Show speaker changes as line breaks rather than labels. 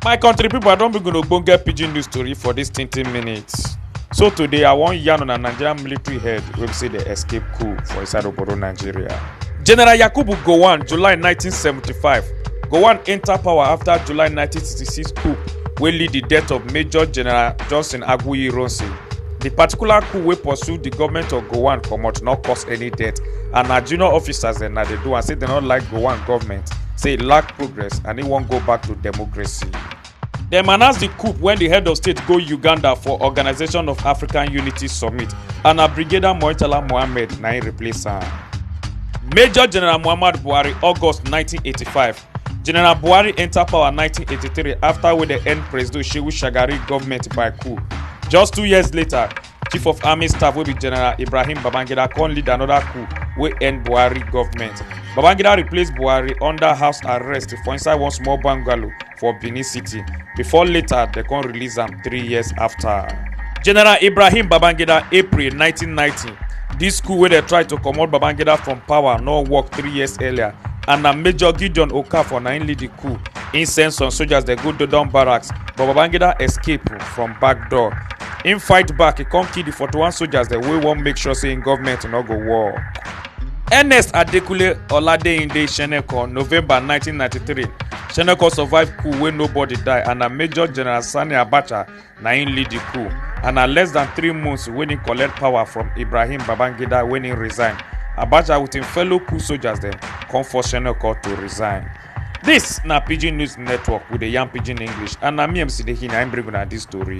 my country people, i don bring una ogbonge pidgin news story for dis tintin minutes so today i wan yarn on a nigerian military head wey be say dey escape coup for inside obodo nigeria general yakubu gowon july 1975 gowon enta power afta july 1966 coup wey lead di death of major general johnson aguiyi ironsi di particular coup wey pursue di goment of gowon comot no cause any death and na junior officers dem na dey do am say dem no like gowon goment say e lack progress and e wan go back to democracy. dem announce di coup wen di head of state go uganda for organisation of african unity summit and na brigadier moitala mohammed na im replace am. major general muhammadu buhari august 1985 general buhari enta power 1983 afta wey dem end presido shehu shagari goment by coup just two years later chief of army staff wey be general ibrahim babangida come lead anoda coup wey end buhari goment babangida replace buhari under house arrest for inside one small bungalow for benin city before later dem come release am three years afta general ibrahim babangida april 1990 This coup wey dey try to comot Babangida from power no work three years earlier and na Major Gideon Okafor na im lead the coup. Im send some soldiers dey go Dodon barracks but Babangida escape from back door. Im fight back, e come kill the 41 soldiers dem wey wan make sure say im government no go work. Ernest Adekunle Oladeinde Seneca, November 1993. Seneca survive coup wey nobody die and na Major General Sani Abacha na im lead di coup and na less than three months wen im collect power from ibrahim babangida wen im resign abacha wit im fellow coup soldiers dem come force seneca to resign dis na pidgin news network we dey yarn pidgin english and na me mc dehi na im bring una dis tori